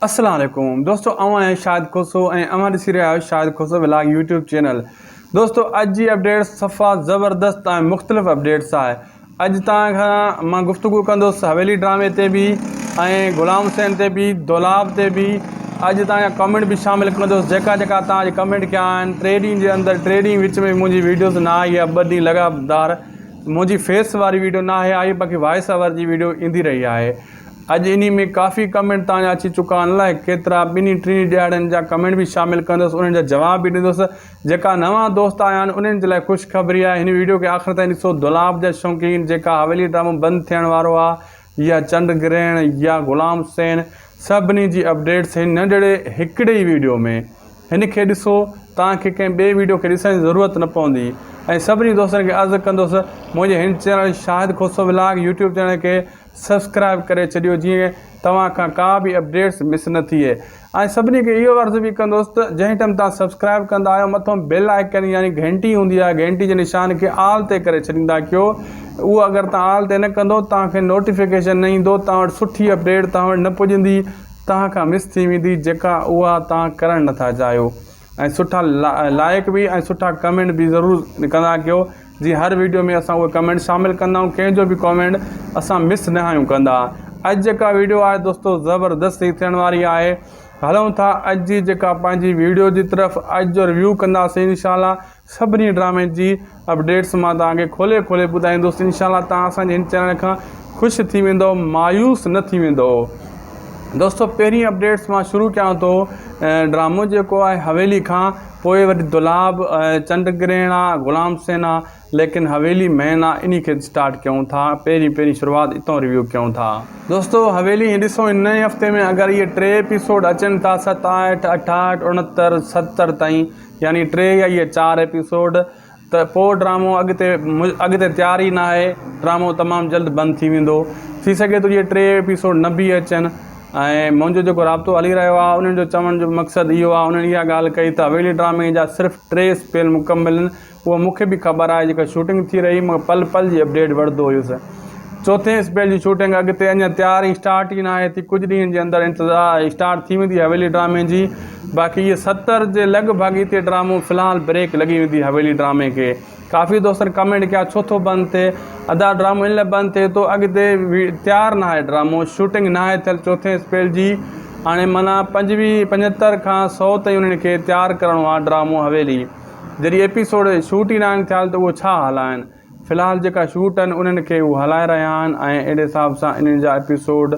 السلام عليڪم دوستو آئون آهيان شاهد کوسو ۽ اوهان ڏسي رهيا آهيو Shahid Khoso vlog YouTube channel دوستو اڄ جي اپڊيٽ صفا زبردست ۽ مختلف اپڊيٽس آهي اڄ تان کان مان گفتگو ڪندس حويلي ڊرامي تي به ۽ غلام حسين تي به دولاب تي به اڄ تان کان ڪمنٽ به شامل ڪندس جيڪا جيڪا تان اڄ ڪمنٽ ڪيا آهن ٽي ڏينهن جي اندر ٽي ڏينهن وچ ۾ منهنجي ويڊيوز نه آئي آهي ٻه ڏينهن لڳاتار منهنجي فيس واري ويڊيو نه آهي آئي باقي وائس اوور جي ويڊيو ايندي رهي آهي اڄ انهي ۾ ڪافي ڪمينٽ توهان جا اچي چڪا آهن الائي ڪيترا ٻنهي ٽنهي ڏهاڙين جا ڪمينٽ به شامل ڪندس انهن جا جواب به ڏيندس جيڪا نوان دوست آيا آهن انهن جي لاء خوشخبري آهي هن ويڊيو کي آخر تائين ڏسو دولاب جا شوقين جيڪا حويلي ڊرامو بند ٿيڻ وارو آهي يا چنڊ گرهڻ يا غلام حسين سڀني جي اپڊيٽس هن ننڍڙي هڪڙي ئي ويڊيو ۾ هن کي ڏسو توهان کي ڪنهن ٻئي ويڊيو کي ڏسڻ جي ضرورت نه پوندي ۽ سڀني دوستن کي عرض ڪندس منهنجي هن channel Shahid Khoso vlog YouTube channel کي سبسڪرائب ڪري ڇڏيو جيئن توهان کان ڪا به اپڊيٽس مس نه ٿئي ۽ سڀني کي اهو عرض به ڪندوس ته جنهن ٽئم توهان سبسڪرائب ڪندا آهيو مٿون بيل آئيڪن يعني گهنٽي هوندي آهي گهنٽي جي نشان کي آل تي ڪري ڇڏيندا ڪيو اهو اگر توهان آل تي نه ڪندو توهان کي نوٽيفڪيشن نه ايندو توهان وٽ سٺي اپڊيٽ توهان وٽ نه پڄندي توهان کان مس ٿي ويندي جيڪا اها توهان ڪرڻ نه ٿا چاهيو ۽ سٺا لائيڪ به ۽ سٺا ڪمينٽ به ضرور ڪندا ڪيو جي ھر ويڊيو ۾ اسان اھي ڪمينٽ شامل ڪندا آھيون ڪنھن جو به ڪمينٽ اسان مس نه آھيون ڪندا اڄ جيڪا ويڊيو آھي دوستو زبردست ھي ٿيڻ واري آھي ھلون ٿا اڄ جي جيڪا پنھنجي ويڊيو جي طرف اڄ جو ريويو ڪنداسين ان شاء الله سڀني ڊرامن جي اپڊيٽس مان توهان کي کولي کولي ٻڌائيندس انشاء الله توهان اسان جي هن چينل کان خوش ٿي ويندؤ مايوس نه ٿي ويندؤ دوستو پهرين اپڊيٽس مان شروع ڪيان ٿو ڊرامو جيڪو آهي حويلي کان پوء وري دولاب چنڊ گرهڻ آ غلام سين آ ليڪن حويلي مين آ انهي کي اسٽارٽ ڪيون ٿا پهرين پهرين شروعات اتو ريويو ڪيون ٿا دوستو حويلي ڏسو هن نئين هفتي ۾ اگر اهي ٽي ايپيسوڊ اچن ٿا ستاهٺ اٺاهٺ اڻتر ستر تائين يعني ٽي يا اهي چار ايپيسوڊ ته پوء ڊرامو اڳتي اڳتي تيار ئي ناهي ڊرامو تمام جلد بند ٿي ويندو ٿي سگهي ٿو جي ٽي ايپيسوڊ نه به اچن ۽ منهنجو جيڪو رابطو هلي رهيو آهي انهن جو چوڻ جو مقصد اهو آهي انهن اها ڳالهه ڪئي ته اويلي ڊرامي جا صرف ٽي سپيل مڪمل آهن اهو مون کي به خبر آهي جيڪا شوٽنگ ٿي رهي مگر پل پل جي اپڊيٽ وٺندو هيس چوٿين اسپيل جي شوٽنگ اڳتي اڃا تيار ۽ اسٽارٽ ئي ناهي ٿي ڪجهه ڏينهن جي اندر اسٽارٽ ٿي ويندي حويلي ڊرامي جي باقي اهي ستر جي لڳ ڀڳ اتي ڊرامو في الحال بريڪ لڳي ويندي حويلي ڊرامي کي ڪافي دوستن ڪمينٽ ڪيا ڇو ٿو بند ٿئي ادا ڊرامو ان لاء بند ٿئي ٿو اڳتي تيار ناهي ڊرامو شوٽنگ ناهي ٿيل چوٿين اسپيل جي هاڻي معنيٰ پنجويهه پنجهتر کان سو تائين انهن کي تيار ڪرڻو آهي ڊرامو حويلي جڏهن ايپيسوڊ شوٽ ئي ناهن ٿيال ته اهو ڇا هلائن في الحال جيڪا شوٽ آهن انهن کي هو هلائي رهيا آهن ۽ اهڙي حساب سان انهن جا ايپيسوڊ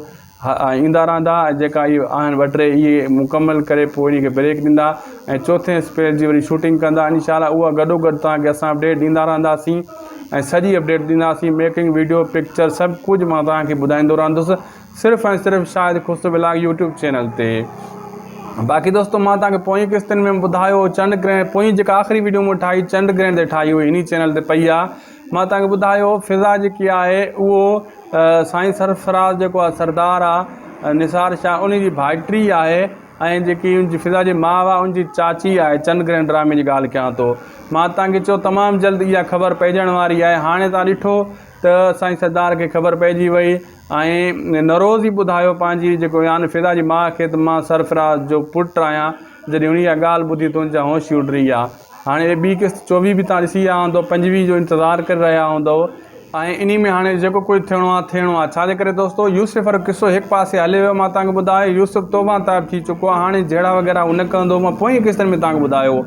ايندا رهندا ۽ جيڪا هي آهن ٻه ٽي اهي مڪمل ڪري پوء انهي کي بريڪ ڏيندا ۽ چوٿين اسپيل جي وري شوٽنگ ڪندا انشاء الله اها گڏوگڏ توهان کي اسان اپڊيٽ ڏيندا رهنداسين ۽ سڄي اپڊيٽ ڏينداسين ميڪنگ وڊيو پڪچر سڀ ڪجهه مان توهان کي ٻڌائيندو رهندس صرف ۽ صرف Shahid Khusro vlog YouTube channel تي باقي دوستو مان توهان کي پوئين قسطن ۾ ٻڌايو چنڊ گرهڻ پوئين جيڪا آخري ويڊيو مون ٺاهي چنڊ گرهڻ تي ٺاهي هئي انهي چينل تي پئي آهي مان توهان کي ٻڌايو فضا جيڪي آهي اهو سائين سرفراز جيڪو آهي سردار آهي نثار شاهه انهي جي ڀائٽي آهي ۽ جيڪي ان جي فضا جي ماء آهي ان جي چاچي آهي چنڊ گرهڻ ڊرامي جي ڳالهه ڪيان ٿو مان توهان کي چيو تمام جلد اها خبر پئجڻ واري آهي هاڻي توهان ڏٺو ته سائين سردار کي خبر پئجي وئي ۽ نوروز ئي ٻڌايو پنهنجي جيڪو يان فضا جي ماء کي ته مان سرفراز جو پٽ آهيان جڏهن هن اها ڳالهه ٻڌي ته هن جا هوش ئي اڏري ويا هاڻي اهي ٻي قسط چوويهه به توهان ڏسي آيا هوندؤ پنجويهه جو انتظار ڪري رهيا هوندؤ ۽ انهي ۾ هاڻي جيڪو ڪجهه ٿيڻو آهي ٿيڻو آهي ڇا جي ڪري دوستو يوسف وارو قصو هڪ پاسي هليو ويو مان توهان کي ٻڌايو يوسف توبان تائب ٿي چڪو آهي هاڻي جهيڙا وغيره هو نه ڪندو مان پوئين قسطن ۾ توهان کي ٻڌايو هو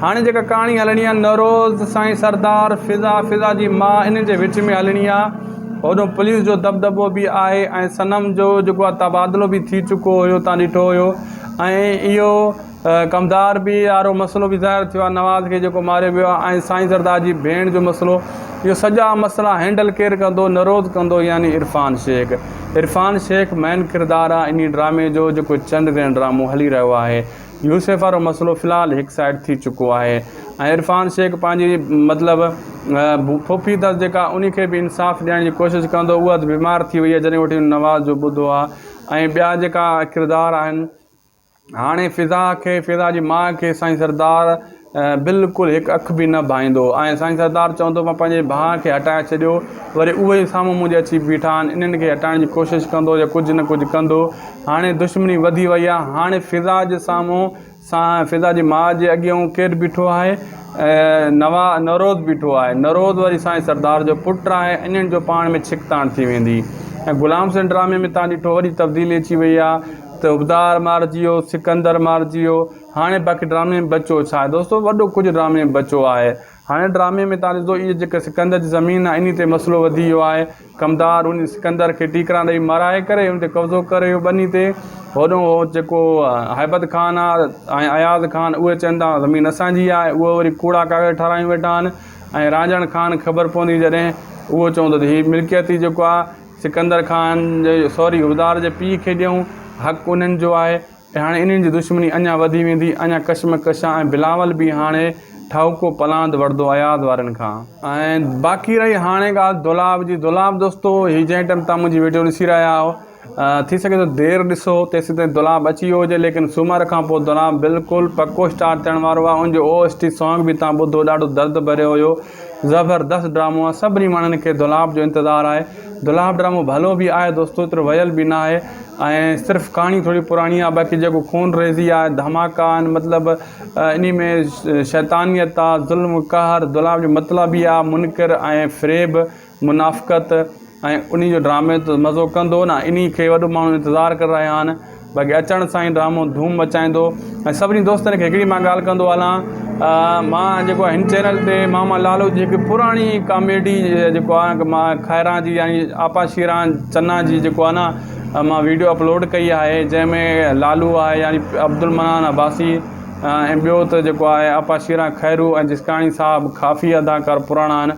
هاڻي جيڪا ڪهاڻي هلڻي آهي نوروز سائين سردار فضا فضا جي ماء انهن جي وچ ۾ هلڻي آهي هوڏو پوليس جو دٻدٻو به آهي ۽ صنم جو جيڪو آهي تبادلو به ٿي چڪو هيو تان ڏٺو هيو ۽ اهو ڪمدار بي وارو مسئلو به ظاهر ٿيو آهي نواز کي جيڪو ماريو ويو آهي ۽ سائين زردار جي ڀيڻ جو مسئلو اهو سڄا مسئلا هينڊل ڪير ڪندو نروڌ ڪندو يعني عرفان شيخ عرفان شيخ مين ڪردار آهي انهي ڊرامي جو جيڪو چنڊ گرهڻ ڊرامو هلي رهيو آهي يوسف وارو مسئلو في الحال هڪ سائيڊ ٿي چڪو آهي ۽ عرفان شيخ پنهنجي مطلب ڦوڦي اٿس جيڪا ان کي به انصاف ڏيڻ جي ڪوشش ڪندو اها ته بيمار ٿي وئي آهي جڏهن وٺي نواز جو ٻڌو آهي ۽ ٻيا جيڪا ڪردار آهن هاڻي فضا کي فضا جي ماء کي سائين سردار بلڪل هڪ اک به نه ڀائيندو ۽ سائين سردار چوندو مان پنهنجي ڀاء کي هٽائي ڇڏيو وري اهي ئي سامهون منهنجي اچي بيٺا آهن انهن کي هٽائڻ جي ڪوشش ڪندو يا ڪجهه نه ڪجهه ڪندو هاڻي دشمني وڌي وئي آهي هاڻي فضا جي سامهون سائين فضا جي ماء جي اڳيئون ڪير بيٺو آهي نوا نروز بيٺو آهي نروز وري سائين سردار جو پٽ آهي انهن جو پاڻ ۾ ڇڪتاڻ ٿي ويندي ۽ غلام حسين ڊرامي ۾ تان ڏٺو وڏي تبديلي اچي وئي آهي ته حبدار مارجي ويو سڪندر مارجي ويو هاڻي باقي ڊرامي ۾ بچيو ڇا آهي دوستو وڏو ڪجهه ڊرامي ۾ بچيو آهي هاڻي ڊرامي ۾ تان ڏسندو اهي جيڪا سڪندر جي زمين آهي انهي تي مسئلو وڌي ويو آهي ڪمدار انهي سڪندر کي ٽيڪران ڏئي مارائي ڪري ان تي قبضو ڪري ويو ٻني تي هوڏو هو جيڪو هيبت خان آهي ۽ اياز خان اهي چون ٿا زمين اسان جي آهي اهي وري ڪوڙا ڪاغذ ٺارايون ويٺا آهن ۽ رانجهڻ خان خبر پوندي جڏهن اهو چوندو ته هي ملڪيت ئي جيڪو آهي سڪندر خان جي سوري هدار جي پيء کي ڏيون حق انهن جو آهي ۽ هاڻي انهن جي دشمني اڃا وڌي ويندي، اڃا ڪشمڪش آ ۽ بلاول به هاڻي ٺاهوڪو پلاند وڙهندو اياز وارن کان. ۽ باقي رهي هاڻي ڳالهه دولاب جي، دولاب دوستو هي جنهن ٽيم تان منهنجي وڊيو ڏسي رهيا آهيو ٿي سگهي ٿو دير ڏسو تيسين تائين دولاب اچي ويو هجي ليڪن سومر کان پوء دولاب بلڪل پڪو اسٽارٽ ٿيڻ وارو آهي ان جو او ايس ٽي سانگ به تان ٻڌو ڏاڍو درد ڀريو هيو زبردست ڊرامو آ سڀني ماڻهن کي دولاب جو انتظار آهي دولاب ڊرامو ڀلو به آهي دوستو ايترو ويل به ناهي ۽ صرف ڪهاڻي ٿوري پراڻي آ باقي جيڪو خون ريزي آهي ڌماڪا آهن مطلب انهي ۾ شيطانيت آ ظلم قهر دولاب جو مطلب ئي آ منڪر ۽ فريب منافقت ۽ انهي جو ڊرامي ته مزو ڪندو نه انهي کي وڏو ماڻهو انتظار ڪري رهيا آهن باقي اچڻ سان ئي ڊرامو ڌوم مچائيندو ۽ سڀني دوستن کي هڪڙي مان ڳالهه ڪندو هلان مان جيڪو آهي هن چينل تي ماما لالو جي هڪ پراڻي ڪاميڊي جيڪو آهي مان کائران جي يعني آپا شيران چنا جي جيڪو آهي نه مان ويڊيو اپلوڊ ڪئي آهي جنهن ۾ لالو آهي يعني عبدالمنان عباسي ۽ ٻيو ته جيڪو آهي آپا شيران خيرو ۽ جسڪاڻي صاحب ڪافي اداڪار پراڻا آهن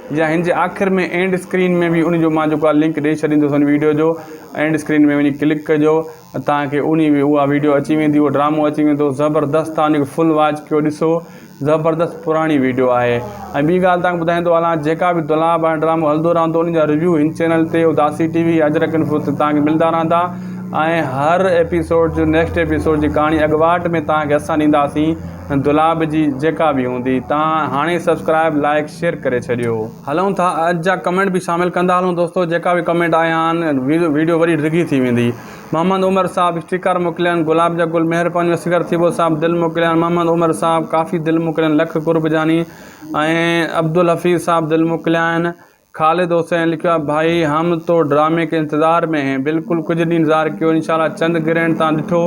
يا هن جي آخر ۾ اينڊ اسڪرين ۾ به ان جو مان جيڪو آ لنڪ ڏئي ڇڏيندس ان ويڊيو جو اينڊ اسڪرين ۾ وڃي ڪلڪ ڪجو توهان کي ان جي اها ويڊيو اچي ويندي اهو ڊرامو اچي ويندو زبردست توهان ان کي فل واچ ڪيو ڏسو زبردست پراڻي ويڊيو آهي ۽ ٻي ڳالهه توهان کي ٻڌائيندو هلان جيڪا به دولاب هاڻي ڊرامو هلندو رهندو ان جا ريويو هن چينل تي Udasi T V Ajrak info تي توهان کي ملندا رهندا ۽ هر ايپيسوڊ جو نيڪسٽ ايپيسوڊ جي ڪهاڻي اڳواٽ ۾ توهان کي اسان ڏينداسين دولاب جي جيڪا به هوندي. تان هاڻي سبسڪرائب لائيڪ شيئر ڪري ڇڏيو. هلون ٿا اڄ جا ڪمينٽ به شامل ڪندا هلون دوستو جيڪا به ڪمينٽ آيا آهن ويڊيو وري ڊگهي ٿي ويندي محمد عمر صاحب اسٽيڪر موڪليان گلاب جا گل مهربانيون اصغر ٿيٻو صاحب دل موڪليان محمد عمر صاحب ڪافي دل موڪلين لک قرب جاني ۽ عبدالحفيظ صاحب دل موڪليان خالد حسين لکيو آهي ڀائي هم تو ڊرامي ڪي انتظار مين هين بلڪل ڪجهه ڏينهن انتظار ڪيو انشاء الله چنڊ گرهڻ تان ڏٺو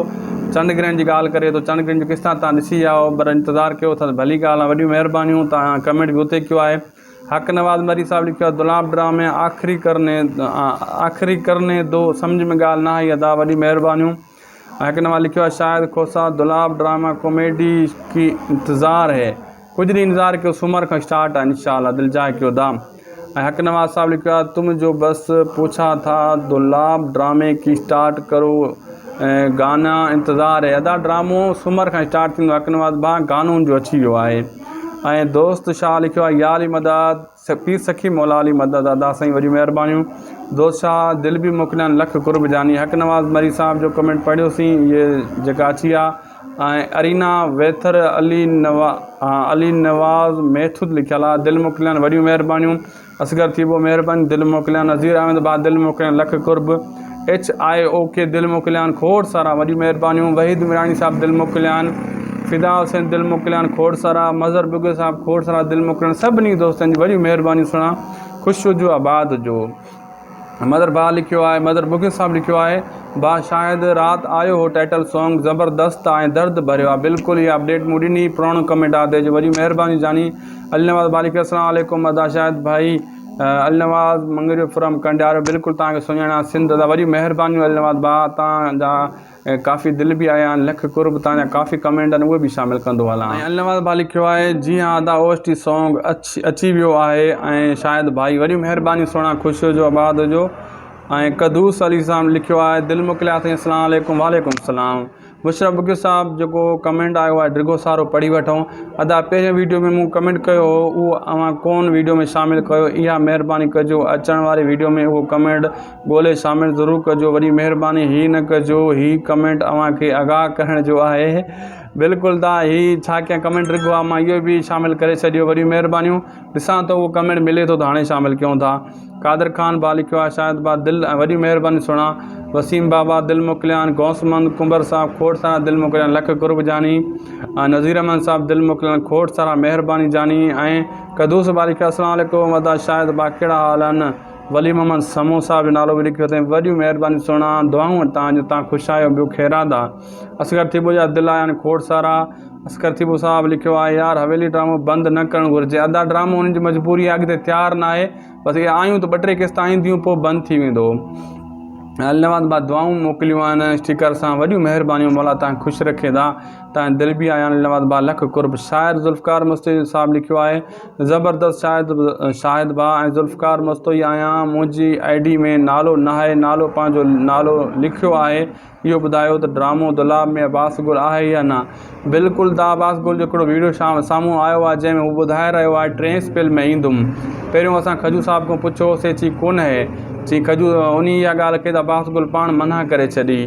چنڊ گرهڻ جي ڳالهه ڪري ٿو چنڊ گرهڻ جو ڪس تان تان ڏسي آئو پر انتظار ڪيو ٿا ته ڀلي ڳالهه آهي وڏيون مهربانيون تان ڪمينٽ به اتي ڪيو آهي حق نواز مري صاحب لکيو آهي دولاب ڊرامي آخري ڪرني آخري ڪرني دو سمجهه ۾ ڳالهه نه آئي ادا وڏيون مهربانيون. هڪ نوان لکيو آهي شاهد کوسا دولاب ڊرامه ڪوميڊي ڪي انتظار هي ڪجھ ڏينهن انتظار ڪيو سومر کان اسٽارٽ آهي انشاء الله دل جاء ڪيو دام ۽ هڪ نواز صاحب لکيو آهي تم جو بس پوڇا ٿا دولاب ڊرامي ڪي اسٽارٽ ڪرو گانا انتظار هي ادا ڊرامو سومر کان اسٽارٽ ٿيندو هڪ نواز ڀا گانو جو اچي ويو آهي ۽ دوست شاهه لکيو آهي ياري مدد پير سخي مولا علي مدد ادا سائين وڏيون مهربانيون دوست شاهه دل به موڪليان لک قرب جاني حق نواز مري صاحب جو ڪمينٽ پڙهيو سين اهي جيڪا اچي آ ۽ ارينا ويٿر علي نوا علي نواز ميٿود لکيل آ دل موڪليان وڏيون مهربانيون اصغر ٿيٻو مهرباني دل موڪليان نظير احمد ڀا دل موڪليان لک قرب ايڇ آء او کي دل موڪليان کوڙ سارا وڏيون مهربانيون وحيد ميراڻي صاحب دل موڪليان فدا حسين دل موڪليان کوڙ سارا مظهر بگل صاحب کوڙ سارا دل موڪليان سڀني دوستن جي وڏيون مهربانيون سھڻا خوش هجو آباد هجو مظهر ڀاء لکيو آهي مظهر بگل صاحب لکيو آهي ڀاء شايد رات آيو هو ٽائٽل سانگ زبردست آ ۽ درد ڀريو آ بلڪل اها اپڊيٽ مون ڏني پراڻو ڪمينٽ آ تنهنجو وڏيون مهربانيون جاني علي نواز ڀاء لکيو آهي اسلام عليڪم ادا شاهد ڀائي النواز مڱريو فرام ڪنڊيارو بلڪل توهان کي سڃاڻان سنڌ ادا وڏيون مهربانيون النواز ڀاء توهان جا ڪافي دل به آهيا آهن لک قرب توهان جا ڪافي ڪمينٽ آهن اهي به شامل ڪندو هلان ۽ النواز ڀاء لکيو آهي جي ها ادا او ايس ٽي سونگ اچي ويو آهي ۽ شاهد ڀائي وڏيون مهربانيون سهڻا خوش هجو آباد هجو ۽ قدوس علي صاحب لکيو آهي دل موڪليا اٿئي اسلام عليڪم وعليڪم السلام مشرف بگيو صاحب جيڪو ڪمينٽ آيو آهي ڊگهو سارو پڙهي وٺون ادا پهرين ويڊيو ۾ مون ڪمينٽ ڪيو هو اهو اوهان ڪون ويڊيو ۾ شامل ڪيو اها مهرباني ڪجو اچڻ واري ويڊيو ۾ اهو ڪمينٽ ڳولي شامل ضرور ڪجو وڏي مهرباني هي نه ڪجو هي ڪمينٽ اوهان کي آگاهه ڪرڻ جو آهي بلڪل دا هي ڇا ڪيان ڪمينٽ ڊگهو آهي مان اهو به شامل ڪري ڇڏيو وڏيون مهربانيون. ڏسان ٿو اهو ڪمينٽ ملي ٿو ته هاڻي شامل ڪيون ٿا قادر خان ڀا لکيو آهي شاهد ڀا دل ۽ وڏي مهرباني سهڻا وسيم بابا دل موڪليان غوث محمد ڪنڀر صاحب کوڙ سارا دل موڪليان لک قرب جاني ۽ نظير احمد صاحب دل موڪليان کوڙ سارا مهرباني جاني ۽ قدوس ڀا لکيو السلام عليڪم ادا شاهد ڀا ڪهڙا حال آهن ولي محمد سمون صاحب جو نالو به لکيو اٿئي وڏيون مهربانيون سهڻا دعائون تان جو تان خوش آهيو ٻيو خيرات آ. اصغر ٿيٻو جا دلا يعني کوڙ سارا اصغر ٿيٻو صاحب لکيو آهي يار حويلي ڊرامو بند نه ڪرڻ گهرجي ادا ڊرامو انهن جي مجبوري آهي اڳتي تيار ناهي بس اهي آيون ته ٻه ٽي قسطا اينديون پوء بند ٿي ويندو النواز با دعائون موڪليون آهن اسٽيڪر سان وڏيون مهربانيون مولا تان خوش رکي دا تان دل بي آيان النواز با لک قرب شاعر ذوالفقار مستوئي صاحب لکيو آهي زبردست شاهد شاهد با ۽ ذوالفقار مستوئي آهيان منهنجي آئي ڊي ۾ نالو ناهي نالو پنهنجو نالو لکيو آهي اهو ٻڌايو ته ڊرامو دولاب ۾ عباس گل آهي يا نه؟ بلڪل دا عباس گل جو هڪڙو ويڊيو سامهون آيو آهي جنهن ۾ هو ٻڌائي رهيو آهي ٽين اسپيل ۾ ايندم. پهريون اسان کجو صاحب کان پڇيو هو سي چي ڪونهي. چي کجو انهي اها ڳالهه ڪئي ته عباس گل پاڻ منع ڪري ڇڏي.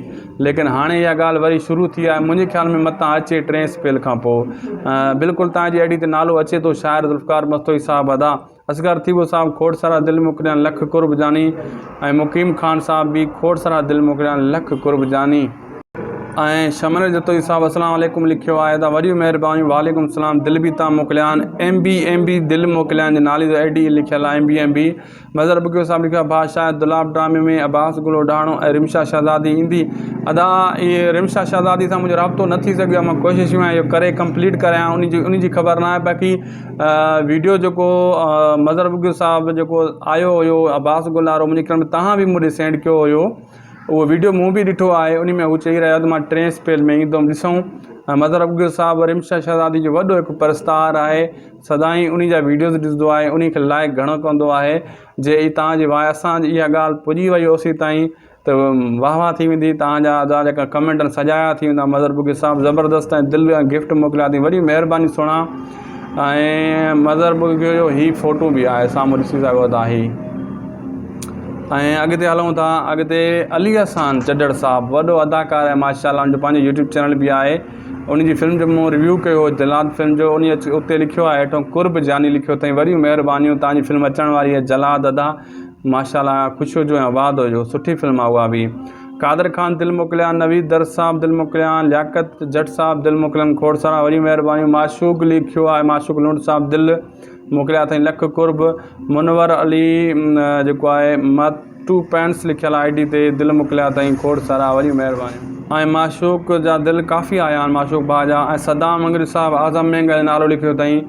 ليڪن هاڻي اها ڳالهه وري شروع ٿي آهي منهنجي خيال ۾ متان اچي ٽين اسپيل کان پوء. بلڪل تان جي ايڊي تي نالو اچي ٿو شاعر ذوالفقار مستوئي صاحب ادا. اصغر ٿيٻو صاحب کوٽ سرا دل موڪليان لک قرب جاني ۽ مقيم خان صاحب به کوٽ سرا دل موڪليان لک قرب جاني. ۽ شمنر جتوئي صاحب اسلام عليڪم لکيو آهي ته وڏيون مهربانيون وعليڪم السلام دل به تان موڪليان ايم بي ايم بي دل موڪليان جي نالي جو اي ڊي لکيل آهي M B M B Mazhar Bagio صاحب لکيو آهي ڀاء شايد دولاب ڊرامي ۾ عباس گل اوڍاڻو ۽ رمشا شهزادي ايندي ادا اهي رمشا شهزادي سان منهنجو رابطو نه ٿي سگهيو آهي مان ڪوشش ۾ آهيان اهو ڪري ڪمپليٽ ڪريان ان جي ان جي خبر ناهي باقي ويڊيو جيڪو مظهر بگٽي صاحب جيڪو آيو هيو عباس گل وارو منهنجي خيال ۾ توهان به مون ڏي سينڊ ڪيو هيو اهو ويڊيو مون به ڏٺو آهي ان ۾ هو چئي رهيو آهي ته مان ٽئين اسپيل ۾ ايندم ڏسون مظهر بگٽي صاحب رحيم شاهه شهزادي جو وڏو هڪ پرستار آهي سدائين انهي جا ويڊيوز ڏسندو آهي انهي کي لائڪ گهڻو ڪندو آهي جي توهان جي واء اسان جي اها ڳالهه پڄي وئي هو سي تائين ته واه واه ٿي ويندي توهان جا ادا جيڪا ڪمينٽ آهن سجايا ٿي ويندا مظهر بگي صاحب زبردست ۽ دل جا گفٽ موڪليا ٿي وڏي مهرباني سهڻا ۽ مظهر بگي جو هي فوٽو به آهي سامهون ڏسي سگهو ٿا هي ۽ اڳتي هلون ٿا اڳتي علي احسان چڊڙ صاحب وڏو اداڪار آهي ماشاء الله ان جو پنهنجو يوٽيوب چينل به آهي ان جي فلم جو مون ريويو ڪيو هو جلاد فلم جو ان اتي لکيو آهي هيٺو قرب جاني لکيو اٿئي وڏيون مهربانيون توهان جي فلم اچڻ واري آهي جلاد ادا ماشاءالله خوش هجو ۽ آباد هجو سٺي فلم آ اها به قادر خان دل موڪليان نويد درس صاحب دل موڪليان لياقت جٽ صاحب دل موڪليان کوڙ سارا وڏي مهرباني معشوق لکيو آهي معشوق لنڊ صاحب دل موڪليا اٿئي لک قرب منور علي جيڪو آهي ماتو پينس لکيل آئي ڊي تي دل موڪليا اٿئي کوڙ سارا وڏي مهرباني ۽ معشوق جا دل ڪافي آيا آهن معشوق ڀاء جا ۽ صدام مڱري صاحب اعظم مينگل نالو لکيو اٿئي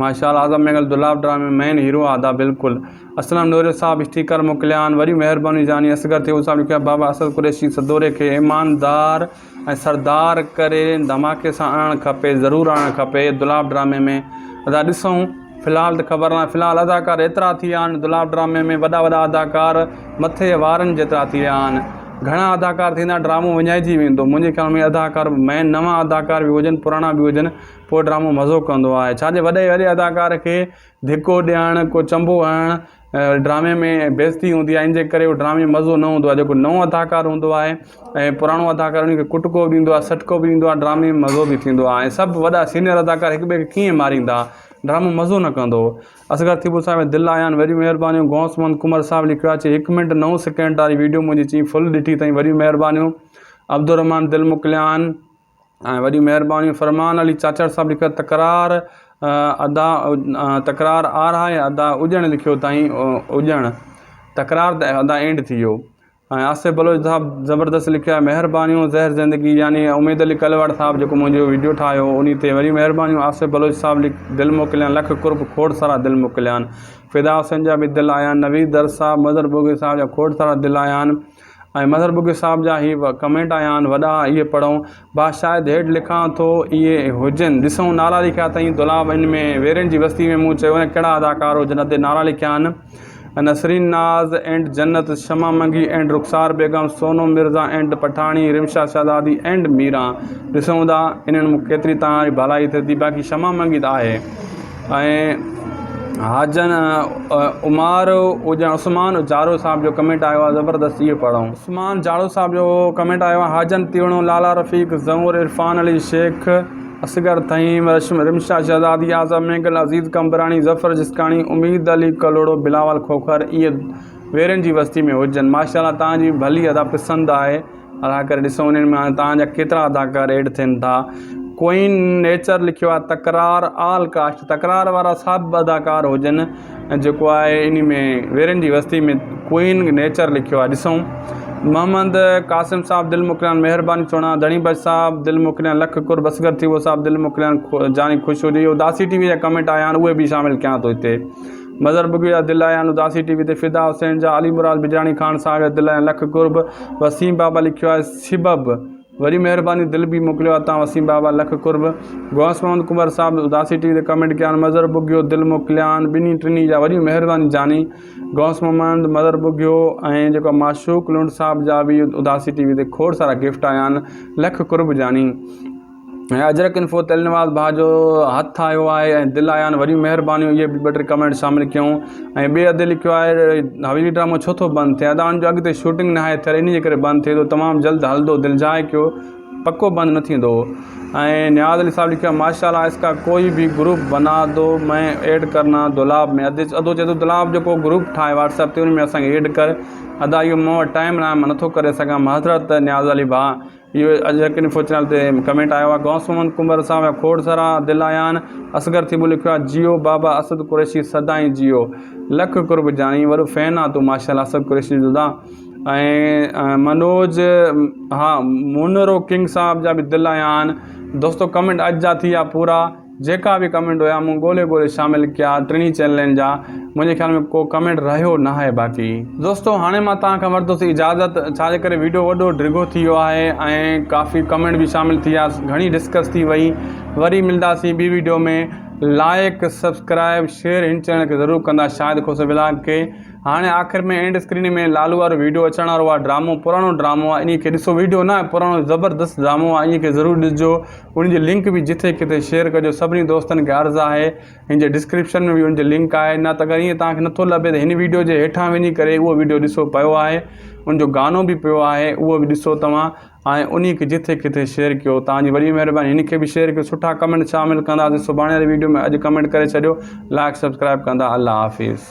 ماشاءالله اعظم مينگل دولاب ڊرامي مين هيرو آ ادا بلڪل اسلم نوريء صاحب اسٽيڪر موڪليائين. وڏيون مهربانيون جاني اصغر ٿيون صاحب لکيو آهي بابا اسد قريشي سدوري کي ايماندار ۽ سردار ڪري ڌماڪي سان آڻڻ کپي ضرور آڻڻ کپي دولاب ڊرامي ۾ ادا ڏسون في الحال ته خبر ناهي في الحال اداڪار ايترا ٿي ويا آهن دولاب ڊرامي ۾ وڏا وڏا اداڪار مٿي جي وارن جيترا ٿي ويا آهن گهڻا اداڪار ٿيندا ڊرامو وڃائجي ويندو منهنجي خيال ۾ اداڪار مين نوان اداڪار به هجن پراڻا به هجن پوء ڊرامو مزو ڪندو آهي ڇاجي وڏي وڏي اداڪار کي ڌڪو ڏيڻ، ڪو چنبو هڻڻ ڊرامي ۾ بيستي هوندي آهي ان جي ڪري هو ڊرامي ۾ مزو نه هوندو آهي جيڪو نئون اداڪار هوندو آهي ۽ پراڻو اداڪار ان کي ڪٽڪو به ڏيندو آهي سٽڪو به ڏيندو آهي ڊرامي ۾ مزو به ٿيندو آهي سڀ وڏا سينئر اداڪار هڪ ٻئي کي ڪيئن ماريندا ڊرامو مزو نه ڪندو اصغر ٿيٻو صاحب دل آيان وڏيون مهربانيون غوث محمد قمر صاحب لکيو آهي چي هڪ منٽ نو سيڪنڊ واري وڊيو منهنجي چئين فل ڏٺي اٿئي وڏيون مهربانيون عبدالرحمان دل موڪليان ۽ وڏي مهرباني فرمان علي چاچڙ صاحب لکيو تڪرار ادا تڪرار آر آهي ادا اڄڻ لکيو تائين اڄڻ تڪرار ته ادا اينڊ ٿي ويو ۽ آصف بلوچ صاحب زبردست لکيو آهي مهربانيون زهر زندگي يعني اميد علي ڪلواڙ صاحب جيڪو منهنجو ويڊيو ٺاهيو ان تي وڏي مهربانيون آصف بلوچ صاحب لک دل موڪليان لک قرب کوڙ سارا دل موڪليان فدا حسين جا به دل آيان نويد در صاحب مظهر ٻوگهي صاحب جا کوڙ سارا دل آيان ۽ مظهر بگٽي صاحب جا هي ڪمينٽ آيا آهن وڏا اهي پڙهون ڀا شايد هيٺ لکان ٿو اهي هجن ڏسون نالا لکيا اٿئين دولاب ان ۾ ويرين جي وستي ۾ مون چيو نه ڪهڙا اداڪار هجن اتي نالا لکيا آهن نسرين ناز and Jannat Shama Mangi and Rukhsar Begum Sonu Mirza and Pathani Rimsha Shahzadi and Miran ڏسون ٿا انهن ۾ ڪيتري توهان جي ڀلائي ٿئي ٿي باقي شمع منگي ته آهي ۽ حاجن عمار هجا عثمان جاڙو صاحب جو ڪمينٽ آيو آهي زبردست اهو پڙهو عثمان جاڙو صاحب جو ڪمينٽ آيو آهي حاجن تيوڻو لالا رفيق زئور عرفان علي شيخ اصغر ٿهيم رشم رمشا شهزادي اعظم مينگل عزيز قمبراڻي ظفر جسڪاڻي اميد علي ڪلهوڙو بلاول کوکر اهي ويرين جي وستي ۾ هجن ماشاء الله تهان جي ڀلي ادا پسند آهي ادا ڪري ڏسو انهن مان توهان جا ڪيترا اداڪار ايڊ ٿين ٿا ڪوئين نيچر لکيو آهي تڪرار آل ڪاسٽ تڪرار وارا سڀ اداڪار هجن جيڪو آهي ان ۾ ويرن جي وستي ۾ ڪوئين نيچر لکيو آهي ڏسو محمد قاسم صاحب دل مڪريان مهرباني چوڻا ڌڻي بچ صاحب دل مڪريان لک کر بسگر ٿي ويو صاحب دل مڪريان جاني خوش هجي اداسي ٽي وي جا ڪمينٽ آيا آهن اهي به شامل ڪيان ٿو هتي مظهر بگڙي جا دل آهيان اداسي ٽي وي تي فدا حسين جا علي مراد بجراڻي خان صاحب جا دل آهيان لک قرب وسيم بابا لکيو آهي سبب وڏي مهرباني دل به موڪليو آهي تان وسيم بابا لک قرب غوث محمد ڪنڀر صاحب اداسي ٽي وي تي ڪمينٽ ڪيان مظهر بگيو دل موڪليان ٻنهي ٽنهي جا وڏي مهرباني جاني غوث محمد مظهر بگيو ۽ جيڪو معشوق لنڊ صاحب جا به اداسي ٽي وي تي کوڙ سارا گفٽ آيان لک قرب جاني ۽ اجرڪ انفو تي النواز ڀاء جو هٿ آيو آهي ۽ دل آيا آهن وڏيون مهربانيون اهي به ٻه ٽي ڪمينٽ شامل ڪيون ۽ ٻئي ادي لکيو آهي حويلي ڊرامو ڇو ٿو بند ٿئي ادا ان جو اڳتي شوٽنگ ناهي ٿيل انهي جي ڪري بند ٿئي ٿو تمام جلد هلندو دلجاء ڪيو پڪو بند نه ٿيندو ۽ نياز علي صاحب لکيو آهي ماشاءالله اس ڪا ڪوئي به گروپ بنا دو مين ايڊ ڪرنا دولاب ۾ ادي ادو چئي ٿو دولاب جو ڪو گروپ ٺاهه واٽس اپ تي ان ۾ اسان کي ايڊ ڪر ادا اهو مون وٽ ٽائم ناهي مان نٿو ڪري سگهان معذرت نياز علي ڀاء اهو اڄڪلهه سوچڻ تي ڪمينٽ آيو آهي غوث محمد ڪنڀر صاحب ۽ کوڙ سارا دل آيان اصغر ٿيٻو لکيو آهي جيئو بابا اسد قريشي سدائين جيئو لک قرب جاني وڏو فين آ تون ماشاء الله اسد قريشي جو دا ۽ منوج ها مونرو ڪنگ صاحب جا به دل آيان دوستو ڪمينٽ اڄ جا ٿي ويا پورا جيڪا به ڪمينٽ هيا مون ڳولي ڳولي شامل ڪيا ٽنهي چينلن جا منهنجي خيال ۾ ڪو ڪمينٽ رهيو ناهي باقي. دوستو هاڻي مان توهان کان ورتو سي اجازت ڇا جي ڪري ويڊيو وڏو ڊگهو ٿي ويو آهي ۽ ڪافي ڪمينٽ به شامل ٿي ويا گهڻي ڊسڪس ٿي وئي وري ملداسين ٻي ويڊيو ۾ لائيڪ سبسڪرائيب شيئر هن چينل کي ضرور ڪندا شاهد کوسو ولاگ کي هاڻي آخر ۾ اينڊ اسڪرين ۾ لالو وارو ويڊيو اچڻ وارو آهي ڊرامو پراڻو ڊرامو آهي انهي کي ڏسو ويڊيو نه آهي پراڻو زبردست ڊرامو آهي انهي کي ضرور ڏسجو ان جي لنڪ به جتي ڪٿي شيئر ڪجو سڀني دوستن کي عرض آهي هن جي ڊسڪرپشن ۾ به ان جي لنڪ آهي نه ته اگر ائين توهان کي نٿو لڀي ته هن ويڊيو جي هيٺان وڃي ڪري اهو ويڊيو ڏسو پيو آهي ان جو گانو به پيو آهي اهو به ڏسو توهان ۽ انهي کي جتي ڪٿي شيئر ڪيو توهان جي وڏي مهرباني هن کي به شيئر ڪيو سٺا ڪمينٽ شامل ڪنداسين سڀاڻي واري ويڊيو ۾ اڄ ڪمينٽ ڪري ڇڏيو لائڪ سبسڪرائب ڪندا الله حافظ